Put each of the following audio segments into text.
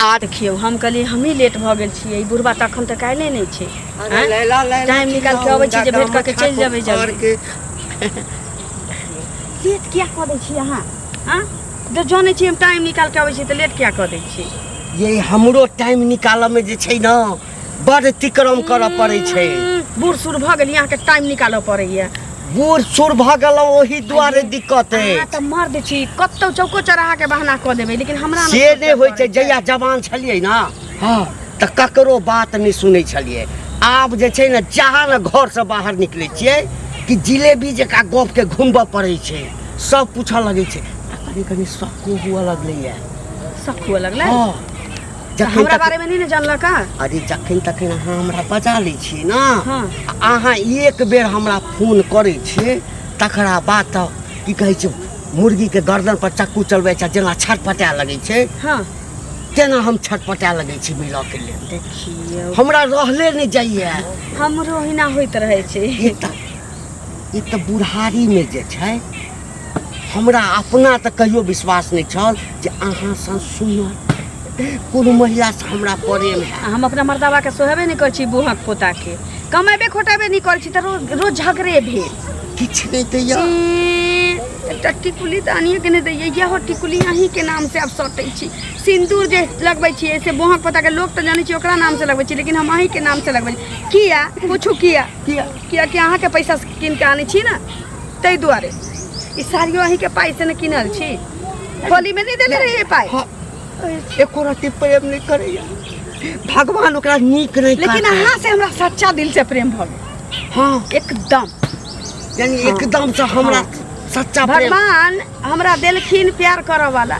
आ देखियौ हम कहलियै हमही लेट भऽ गेल छियै ई बुढ़बा तऽ एखन तक आयले नहि छै आँय? टाइम निकाल के अबै छी जे भेट कऽ के चलि जेबै जल्दी लेट किया कऽ दै छी अहाँ आँ जब जानै छी हम टाइम निकाल के अबै छी तऽ लेट किया कऽ दै छी ये हमरो टाइम निकालऽ में जे छै ना बड़ तिक्रम करऽ पड़ै छै बूढ़ सूढ़ भऽ गेली अहाँके टाइम निकालऽ पड़ैया बूढ़ सूढ़ भऽ गेलहुँ ओही दुआरे दिक्कत अहाँ अछि तऽ मर्द छी कतौ चौको चौराहा के बहाना कऽ देबै लेकिन हमरा से सोचऽ नहि होइ पड़ै छै जहिया जवान छलियै ने हँ तऽ ककरो बात नहि सुनै छलियै आब जे छै ने जहाँ ने घरसँ बाहर निकलै छियै कि जिलेबी जकाँ गपके घुमबऽ पड़ै छै सब पूछऽ लगै छै आ कनि कनि शक्को हुअ लगलैए शक हुअ लगलै हँ जखन हमरा तक बारे में नहीं ना जानला का अरे जखन तखन अहाँ हमरा बजा लै छियै ने हाँ। आ अहाँ एक बेर हमरा फोन करै छियै तकरा बाद तऽ की कहै छै मुर्गीके गर्दन पर चक्कू चलबै छै जेना छटपटाए लगै छै हाँ तेना हम छटपटाए लगै छी मिलऽके लेल देखियो हमरा रहले नहि जाइए हमरो हिना होइत रहे छै ई तऽ ई तऽ बुढ़ारीमे जे छै हमरा अपना तऽ कहियो विश्वास नहि छल जे अहाँ सन सुनल कोनो महिला से हमरा प्रेम है हम अपना मर्दाबा के सोहेबे नहि करै छी बूहक पोता के कमेबे खोटेबे नहि करै छी तऽ रोज रोज झगड़े भेल किछु नहि दैया एं, एकटा टिकुली तऽ अनिए के नहि दैए इएह टिकुली अहीं के नाम से आब सटै छी सिंदूर जे लगबै छियै से बूहक पोता के लोक तऽ जानै छी ओकरा नाम से लगबै छी लेकिन हम अहीं के नाम से लगबै छी किया पूछू किया किया कियाकि अहाँके पैसा से कीन के आनै छी ने ताहि दुआरे ई साड़ियो अहींके पाइ से ने कीनल छी होली में नहीं देले रहिए पाइ हाँ, एको रति प्रेम नहीं करैया भगवान ओकरा नीक नहीं लेकिन काटै। अहाँ से हमरा सच्चा दिल से प्रेम भऽ गेल हाँ एकदम यानी एकदम से हमरा सच्चा प्रेम भगवान हमरा देलखिन प्यार करऽ वाला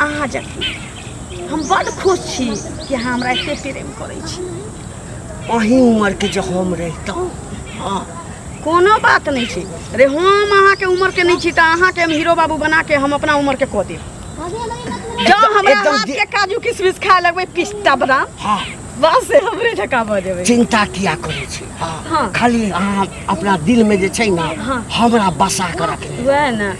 अहाँ जखन हम बड खुश छी कि अहाँ हमरा एते प्रेम करै छी अही उमरके जे हम रहितहुँ हँ कोनो बात नहि छै अरे हम अहाँके उमरके नहि छी तऽ अहाँके हम हीरो बाबू बनाके हम अपना उमरके कऽ देब जँ हमरा एकदम हाथके गे- काजू किशमिश खाए लगबै पिस्ता बादाम हँ बस से हमरे जकाँ भऽ जेबै चिन्ता किया करै छी हँ हँ। खाली अहाँ अपना दिलमे जे छै ने हमरा बसा कऽ रखने वएह ने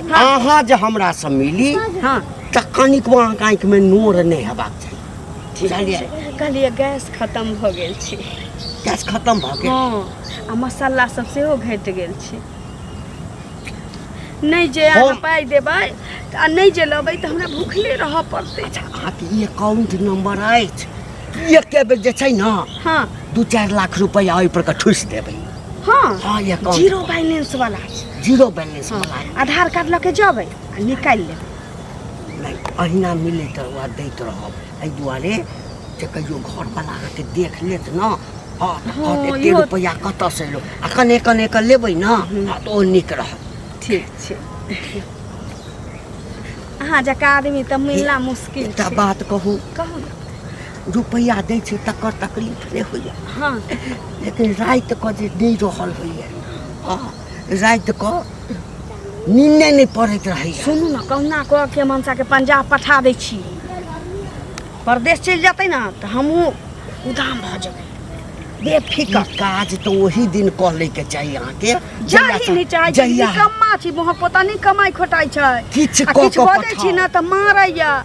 अहाँ जे हमरा से मिली हाँ तऽ कनिक अहाँके आँखिमे नोर नहि हेबाक चाही ठीक बुझलियै छै कहलियै गैस खत्म भऽ गेल छै गैस खत्म भऽ गेल हाँ आ मसाला सब सेहो घट गेल छै नहि जे अहाँ हम- पाइ देबै तऽ आ नहि जे लेबै तऽ हमरा भूखले रहऽ पड़तै अच्छा अहाँके ई एकाउंट नंबर अछि एके बेर जे छै ने हाँ दू चारि लाख रुपैआ ओहिपर के ठुसि देबै हाँ हाँ ये अकाउंट जीरो बैलेंस वाला जीरो बैलेंस हाँ। वाला आधार कार्ड लऽ के जेबै आ निकालि लेबै नहि अहिना मिलैत रहब दैत रहब एहि दुआरे जे कहियो घरवला अहाँके देख लेत ने हाँ हाँ एते रुपैआ कतऽसँ एलो आ कने कने कऽ लेबै ने हाँ तऽ ओ नीक रहत ठीक छै अहाँ जकाँ आदमी तऽ मिलना मुश्किल एकटा बात कहू कहू रुपैआ दै छै तकर तकलीफ नहि होइए हँ लेकिन राति कऽ जे नहि रहल होइए हँ राति कऽ नींदे नहि पड़ैत रहैए सुनू ने कहुना कऽ के हम हमसाके पंजाब पठा दै छी परदेश चलि जेतै ने तऽ हमहूँ उदाम भऽ जेबै ई बेफिकर काज तऽ ओही दिन कऽ लैके चाही अहाँके जाही नहि चाहै छै जहिया निकम्मा छी वहाँ पता नहि कमाइ खोटाइ छै किछु आ कऽ किछु कऽ बजै पठाउ। छी ने तऽ मारैया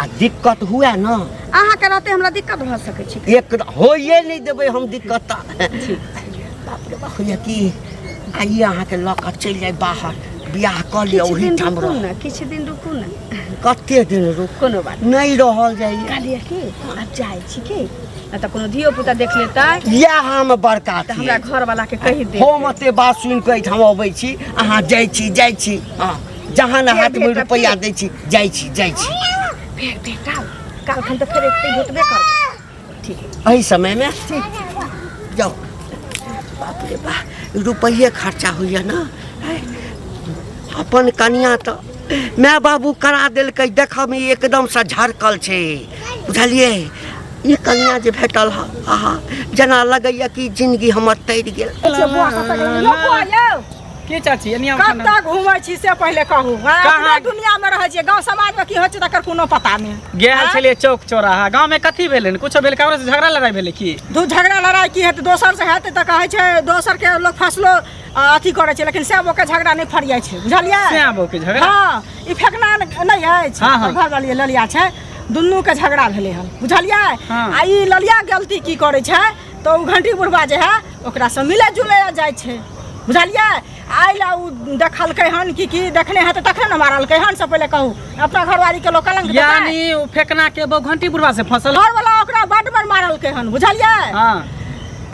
आ दिक्कत हुए ना अहाँ के रहते हमरा दिक्कत भ सके छी एक होइए नहीं देबे हम दिक्कत ता। बाप रे बाप होइए कि आइए अहाँ के लऽ कऽ चलि जाय बाहर बियाह कऽ लिअ किछु ओही दिन ठाम रुकू रह ना किछु दिन रुकू ना कते दिन रुक कोनो बात नहीं रहल जाइए कहलिए कि अब जाए छी कि ना त कोनो धियो पुता देख लेतै इएह हम बड़का त हमरा छियै घर वाला के कहि दे हम एते बात सुनि कऽ एहिठाम अबै छी अहाँ जाइ छी जाइ छी हँ जहाँ ना हाथ में रुपया दै छी जाइ छी जाइ छी फेर बेटा काल खन तो फिर एकते भेटबे कर ठीक है एहि समय में जाओ बाप रे बा रुपये खर्चा होइए ना हैं? अपन कनिया तो माय बाबू करा देलकै देखऽ में एकदम से झरकल छै बुझलियै ई कनिया जे भेटल ह आहा जेना लगैया कि जिनगी हमर तैर गेल अच्छा बुआ का पकड़ लियो बुआ यो की चाची एनी हम खाना कतऽ घूमै छी से पहिले कहू हाँ, कहाँ? अपना दुनिया में रहै छियै गाँव समाज में की होइ छै तकर कोनो पता नहि गेल हाँ? छलिए चौक चौराहा गांव में कथी भेलै ने कुछो भेल ककरो से झगड़ा लड़ाई भेलै की दू झगड़ा लड़ाई की हेतै दोसर से हेतै तऽ कहै छै दोसर के लोग फसलो अ, अथी करै छै लेकिन सएह ओकर झगड़ा नहि फरियाइ छै बुझलियै सएह बो के झगड़ा हाँ ई फेकना न- नहि अछि हाँ, हाँ। घर वाली ललिया छै दुनू के झगड़ा भेलै हन बुझलियै हाँ। आ ई ललिया गलती की करै छै तऽ ओ घंटी बुढ़बा जे है ओकरासँ मिले जुले जाइ छै बुझलियै आइ लए ओ देखलकै हन कि की देखने हेतै तखन ने मारलकै हन से पहिले कहू अपना घरवाली के लोग कलंक यानी ओ फेकना के बहु घंटी बुढ़वा से फसल घर वाला ओकरा बड बड़ मारलकै हन बुझलियै हाँ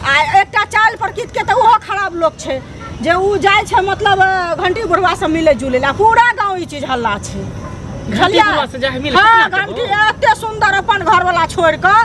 आ एकटा चाल प्रकृत के तऽ ओहो खराब लोग छै जे ओ जाइ छै मतलब घंटी बुढ़वा से मिले जुले ला पूरा गाँव ई चीज हल्ला छै घंटी बुढ़वा से जाइ मिले हँ घंटी एते सुंदर अपन घर वाला छोड़ कऽ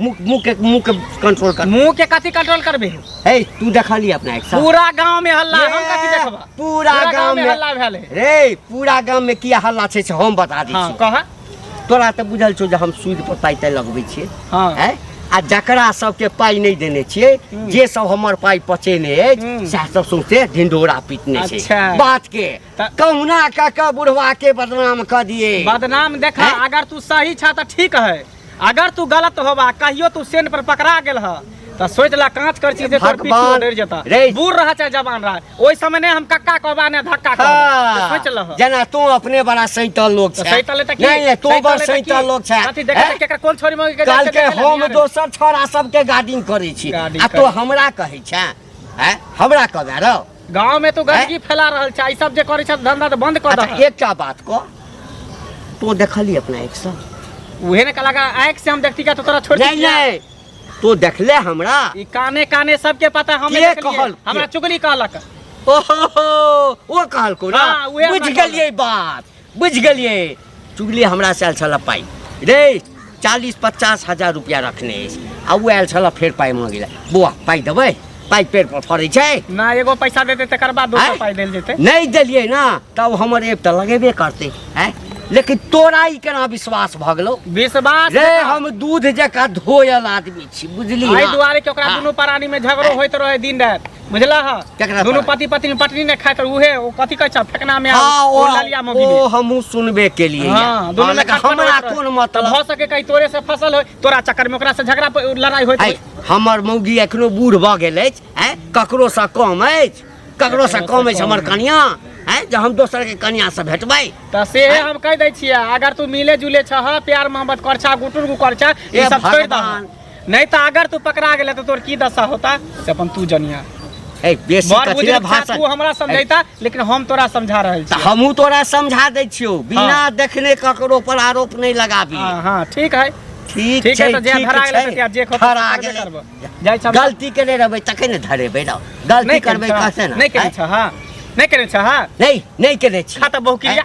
मुख मुख के मुख के कंट्रोल कर मुंह के कथी कंट्रोल करबे हे तू देखली अपना एक साथ पूरा गांव में हल्ला हम कथी ये, देखबा पूरा गांव में हल्ला भेल है रे पूरा गांव में किया हल्ला छै से हम बता दै हां छी कह तोरा तऽ बुझल छौ जे हम सूद पर पाइ तै लगबै छियै हां हैं आ जकरा सबके पाइ नहि देने छियै हम्म। जे सब हमर पाइ पचेने अछि हम्म। सएह सब सौंसे ढिंढोरा पीटने अच्छा। छै बात के तऽ- कहुना कऽ कऽ बुढ़वा के बदनाम कऽ दिए बदनाम देखा हैं? अगर तू सही छा त ठीक है अगर तू गलत होबा कहियो तू सेन पर पकड़ा गेल ह तो सोच ला कांच कर चीज तोर पीछे भगवान, डर जता रे। बूढ़ रहा चाहे जवान रहा ओइ समय ने हम कक्का कहबा ने धक्का कहबा हाँ, सोच लह जेना तू अपने बड़ा सैतल लोग तो छै सैता लेता की नहीं नहीं तू सैता बड़ लेता की? सैतल लोग छै अथी देखा हैं? केकर कोन छोरी मगे के काल के हम दोसर छोरा सबके गार्डिंग करै छी गार्डिंग आ तो करै। हमरा कहै छै हैं? हमरा कहबे रौ गांव में तो गंदगी फैला रहल छै ई सब जे करै छै धंधा तो बंद कर अच्छा, दे एकटा बात को तो देखली अपना एक सौ उहे ने कलाका आंख से हम देखती का तो तोरा छोड़ नहीं दिया नहीं तो देखले हमरा ई काने काने सबके पता हम के नहीं देखलिए कहल? हमरा चुगली कहलक ओहो ओ कहल को ना हाँ, उहे बुझ हमरा गेलिए बात बुझि गेलियै चुगली हमरा से आयल छल पाइ रे चालीस पचास हजार रुपया रखने अछि आ ओ आयल छल फेर पाइ मांगे लए बौआ पाइ देबै पाइ पेड़ पर फड़ै छै ना एगो पैसा देते तकर बाद दोसर आँय? पाइ देल जेतै नहि देलियै ना तब हमर एक तऽ लगेबे करतै आँय लेकिन तोरा ई केना विश्वास भऽ गेलौ विश्वास रे जकाँ। हम दूध जकाँ धोयल आदमी छी बुझली एहि ना? दुआरे कि ओकरा हाँ। दुनू प्राणी में झगड़ो होइत रहे दिन राति बुझला हा केकरा दोनों पार्टी? पति पत्नी पटनी ने खाए तर उहे ओ कथी कहै छ फेकना में हाँ, ओ ओ- ललिया में ओ बिने हमहूँ सुनबे के लिए हां दोनों में खटपट हमरा होइत रहे। कोन मतलब भ सके कहीं तोरे से फसल होय तोरा चक्कर में ओकरा से झगड़ा प- लड़ाई होइत आइ, होय हमर मौगी एखनो बूढ़ भऽ गेल अछि आँय ककरो सँ कम अछि ककरो सँ कम अछि हमर कनिया आँय जे हम दोसर के कनिया से भेटबै त से हम कह दै छियै अगर तू मिले जुले छह प्यार मोहब्बत करछा गुटुर गु करछा ई ए सब छोड़ दह भगवान नहीं तो अगर तू पकड़ा गेला तो तोर की दशा होता से अपन तू जनिया ए बेसी बड़ कथी बुजुर्ग ला था, भाषण तू हमरा समझैता लेकिन हम तोरा समझा रहल तऽ छी हमहूँ तोरा समझा दै छियौ बिना हाँ। देखने ककरो पर आरोप नहि लगाबी हाँ हाँ ठीक है ठीक ठीक छै है तो जे ठीक धरा गेला छै। तो जे खोता धरा करबे गेलै। करबो जाइ छै गलती केने रहबै तखन ने धरेबै रौ गलती करबै कसे ने नहीं करे आँय? छ हां नहीं करे छ हां नहि नहि केने छी खा तऽ बहु क्रिया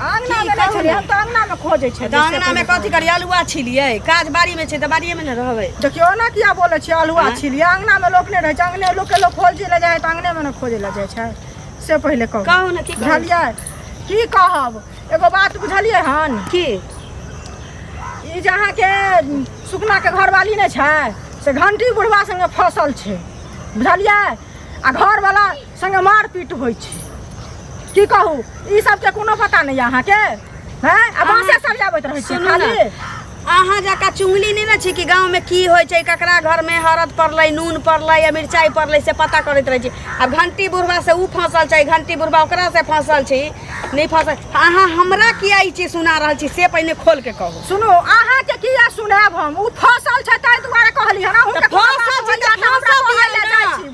अंगना की मे कहू छलियै ने? हम तऽ अंगना मे खोजै छलियै तऽ अंगना मे कथी करियै अलुआ छिलियै काज बाड़ी मे छै तऽ बाड़िये मे ने रहबै देखियौ ओना किया बोलै छियै अलुआ आँय? छिलियै अंगना मे लोक नहि रहै छै अंगने लोक के लोक खोजै लए जाइ तऽ अंगने मे ने खोजै लए जाइ छै से पहिले कहू कहू ने की कहू बुझलियै की कहब एगो बात बुझलियै हन की ई जे अहाँके सुकना के घरवाली नहि छै से घंटी बुढ़वा संगे फसल छै बुझलियै आ घरवाला संगे मारपीट होइ छै की कहू ई सबके कोनो पता नहि अहाँके हैं आ बाँसे सब जाबैत रहै छै सुनू खाली ने अहाँ जका चुंगली नहि ने छी कि गाँव में की होइ छै ककरा घर में हरद पड़लै नून पड़लै या मिरचाई पड़लै से पता करैत रहै छी आब घंटी बुढ़वा से ऊ फंसल छै घंटी बुढ़वा ओकरा से फंसल छी नहि फंसल अहाँ हमरा किया ई चीज सुना रहल छी से पहिने खोल के कहू सुनू अहाँके किया सुनाएब हम ओ फसल छै ताहि दुआरे कहली हन अहूँके तऽ फसल छै तऽ फसल दिअ ने।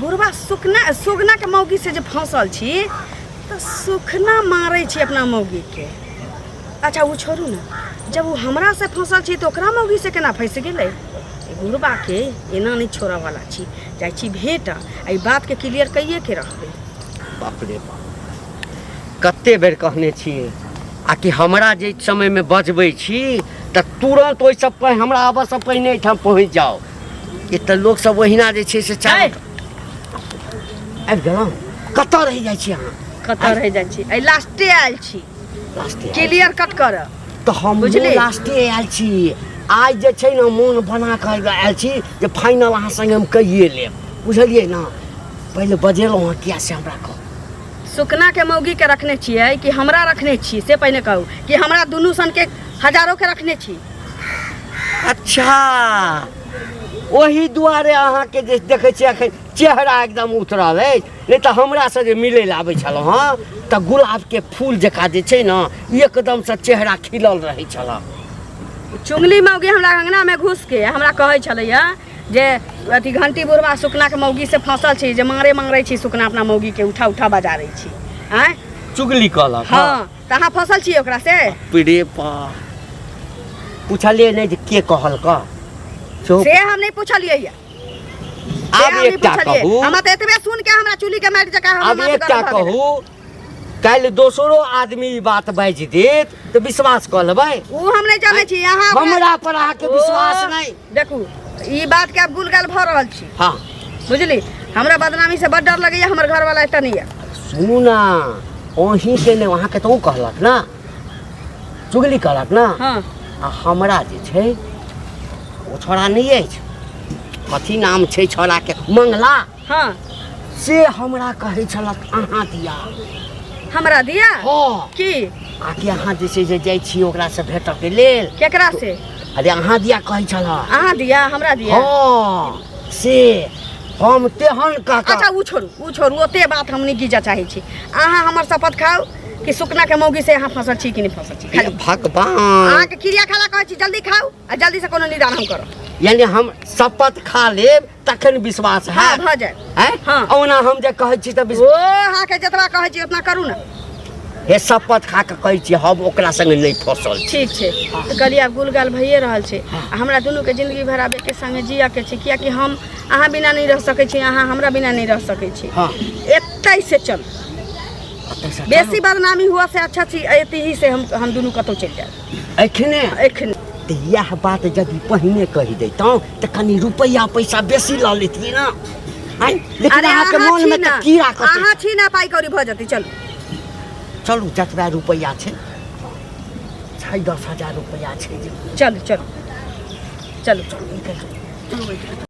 बुढ़वा सुखना सुगनाके मौगीसँ जे फँसल छी तऽ सुखना मारै छी अपना मौगीके अच्छा ओ छोड़ू ने जब ओ हमरासँ फँसल छी तऽ ओकरा मौगीसँ केना फँसि गेलै बुढ़बाके एना नहि छोड़ऽवला छी जाइ छी भेटऽ एहि बातके क्लियर कहिए के रहबै बाप रे बाप कते बेर कहने छियै आ कि हमरा जे समयमे बजबै छी तऽ तुरन्त ओहिसँ पहि- हमरा आबऽसँ पहिने एहिठाम पहुँच जाउ एतऽ लोक सब ओहिना जे छै से चाहे आबि गेलहुँ कतऽ रहि जाइ छी अहाँ कतऽ रहि जाइ छी आइ लास्टे आयल छी क्लियर कट कर तऽ हम बुझली लास्टे आयल छी आइ जे छै ने मोन बना कऽ आयल छी जे फाइनल अहाँ संगे हम कहिए लेब बुझलिए ना पहले बजेलहुँ हँ किया से हमरा कह सुकना के मौगी के रखने छियै कि हमरा रखने छी से पहले कहू कि हमरा दुनू सन के हजारों के रखने छी अच्छा ओही दुआरे अहाँके जे देखै छियै एखन चेहरा एकदम उतरल अछि नहि तऽ हमरासँ जे मिलै लए आबै छलहुँ हँ तऽ गुलाबके फूल जकाँ जे छै ने एकदमसँ चेहरा खिलल रहै छलए चुंगली मौगी हमरा अङ्गनामे घुसके हमरा कहै छलैया जे अथी घंटी बुढ़वा सुकनाके मौगीसँ फँसल छी जे मारे मारै छी सुकना अपना मौगीके उठा उठा बजारै छी आँय चुगली कहलक हँ तऽ अहाँ फसल छियै ओकरा से पीड़े पा पूछलिए नहीं जे के कहल का चुप से हम नहीं पूछलियै या आब एक टा कहू हमरा तऽ एतबे सुन के हमरा चुली के मारि जका आब एक टा कहू कल दोसरो आदमी ई बात बाजि देत तऽ विश्वास कऽ लेबै ओ हम नहि जानै छी अहाँ हमरा पर अहाँके विश्वास नहि देखू ई बात के आप गुलगाल भर रहल छी हाँ बुझली हमरा बदनामी से बड़ डर लगैया हमर घर वाला एतऽ नहीं है सुनू ना वहीं से ने वहाँ के तो कहलक ना चुगली कहलक ना हाँ आ हमरा जे छै ओ छोड़ा नहि अछि कथी नाम छै छोड़ाके मंगला हाँ से हमरा कहै छलक अहाँ दिया हमरा दिया हाँ की आकि अहाँ जे छै जे जाइ छी ओकरा से भेटऽ के लेल केकरा से अरे अहाँ दिया कहै छलह अहाँ दिया हमरा दिया हाँ से हम तेहन अच्छा काका ऊ छोड़ू ऊ छोड़ू ओते बात हम नहि गिजा चाहै छी अहाँ हमर शपथ खाउ कि सुकना के मौगी से अहाँ फसल छी कि नहि फसल छी हे खाली भगवान अहाँके क्रिया खाला कहै छी जल्दी खाउ आ जल्दी से कोनो निदान हम करब यानी हम शपथ खा लेब तखन विश्वास हाँ है भऽ जाय हैं? हाँ। ओना हम जे कहै छी तऽ ओ विश्वास अहाँके जतबा कहै छी उतना करू ने हे शपथ खा कऽ कहै छी हम ओकरा संगे नहि फँसल छी ठीक छै तऽ कहलियै आब गुलगाल भइए रहल छै आ हमरा दुनूके जिंदगी भर आब एके संगे जियके छै कियाकि हम अहाँ बिना नहि रह सकै छी अहाँ हमरा बिना नहि रह सकै छी हाँ एतै से चल एतयसँ बेसी बदनामी हुआ से अच्छा छी एतही से हम हम दुनू कतहु चलि जायब एखने एखने तऽ इएह बात यदि पहिने कहि दैतहुँ तऽ कनि रुपैआ पैसा बेसी लऽ लेतियै ने आँय? लेकिन अरे अहाँके अहाँ मोनमे छी तऽ ने की राखत अहाँ छी ने पाइ कौड़ी भऽ जेतै चलू चलू जतबा रुपैआ छै छै दस हजार रुपैआ छै जे चलू चलू चलू चलू